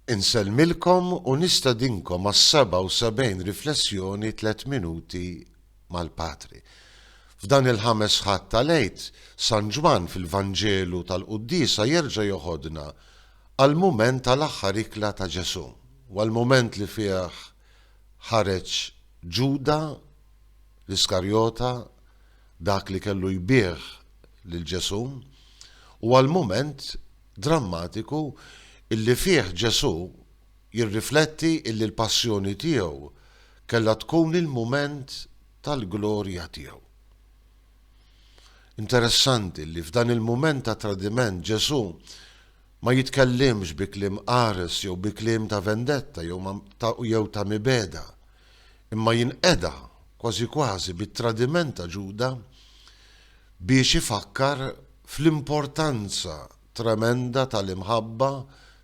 Insellmilkom u nistedinkom għas-77 riflessjoni Tliet Minuti mal-Patri. F'dan il-Ħames Ħadd tal-Għid, San Ġwann fil-Vanġelu tal-Quddiesa jerġa' joħodna għall-mument tal-aħħar ikla ta' Ġesù, u għall-mument li fih ħareġ Ġuda l-Iskarjota, dak li kellu jbigħ lil Ġesù, u għall-mument drammatiku illi fih Ġesù jirrifletti illi l-passjoni tiegħu kellha tkun il-mument tal-glorja tiegħu. Interessanti li f'dan il-mument ta' tradiment Ġesù ma jitkellimx bi kliem qares jew bi kliem ta' vendetta jew ta' mibeda, imma jinqeda kważi kważi bit-tradiment ta' Ġuda biex ifakkar fl-importanza tremenda tal-imħabba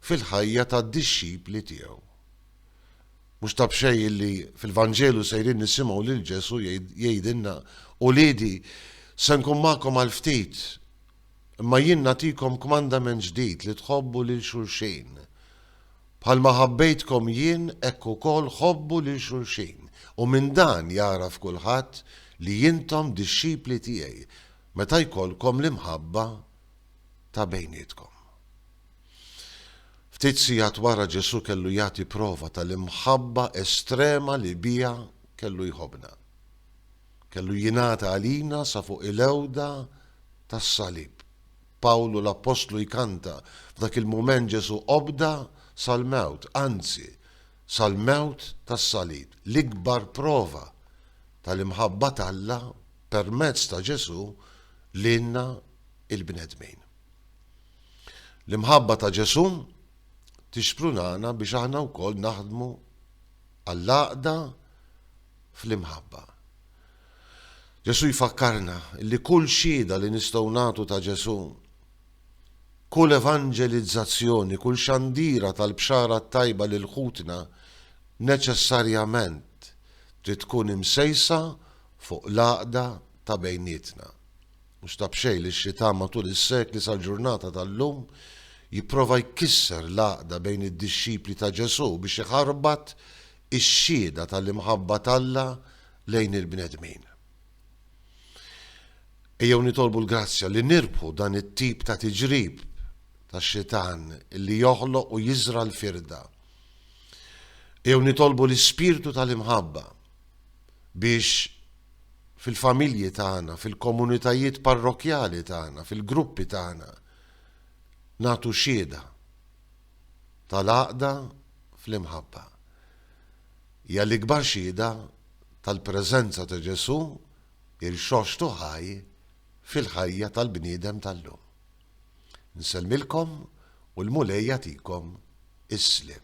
fil-ħajja tad-dixxipli tiegħu. Mhux ta' b'xejn illi fil-Vanġelu sejrin nisimgħu lil Ġesù jgħidilna, Uliedi, se nkun magħkom għal ftit, imma jien nagħtikom kmandament ġdid li tħobbu lil xulxin. Bħalma ħabbejtkom jien, hekk ukoll ħobbu lil xulxin, u minn dan jagħraf kulħadd li intom dixxipli tiegħi, meta jkollkom l-imħabba ta' bejnietkom. Ftit sigħat wara Ġesù kellu jagħti prova tal-imħabba estrema li biha kellu jħobbna. Kellu jingħata għalina sa fuq il-għewda tas-salib. Pawlu l-appostlu jkanta, F'dak il-mument Ġesù obda sal-mewt, anzi, sal-mewt tas-salib. L-ikbar prova tal-imħabba t'Alla permezz ta' Ġesù lilna l-bnedmin. L-imħabba ta' Ġesù tixprunana biex aħna wkoll naħdmu għall-għaqda fl-imħabba. Ġesù jfakkarna li kull xhieda li nistgħu nagħtu ta' Ġesù, kull evanġelizzazzjoni, kull xandira tal-Bxara t-Tajba lil ħutna neċessarjament trid tkun imsejsa fuq l-għaqda ta' bejnietna. Mhux ta' b'xejn li x-Xitan matul is-sekli sal-ġurnata tal-lum jipprova jkisser l-għaqda bejn id-dixxipli ta' Ġesù biex iħarbat ix-xhieda tal-imħabba t'Alla lejn il-bnedmin. Ejjew nitolbu l-grazzja li nirbħu dan it-tip ta' tiġrib tax-Xitan li joħloq u jiżra' l-firda. Ejjew nitolbu l-ispirtu tal-imħabba biex fil-familji tagħna, fil-komunitajiet parrokkjali tagħna, fil-gruppi tagħna nagħtu xhieda tal-għaqda fl-imħabba. Hija l-ikbar xhieda tal-preżenza ta' Ġesù irxoxtu ħaj fil-ħajja tal-bniedem tal-lum. Nsellmilkom u l-Mulej jagħtikom is-sliem.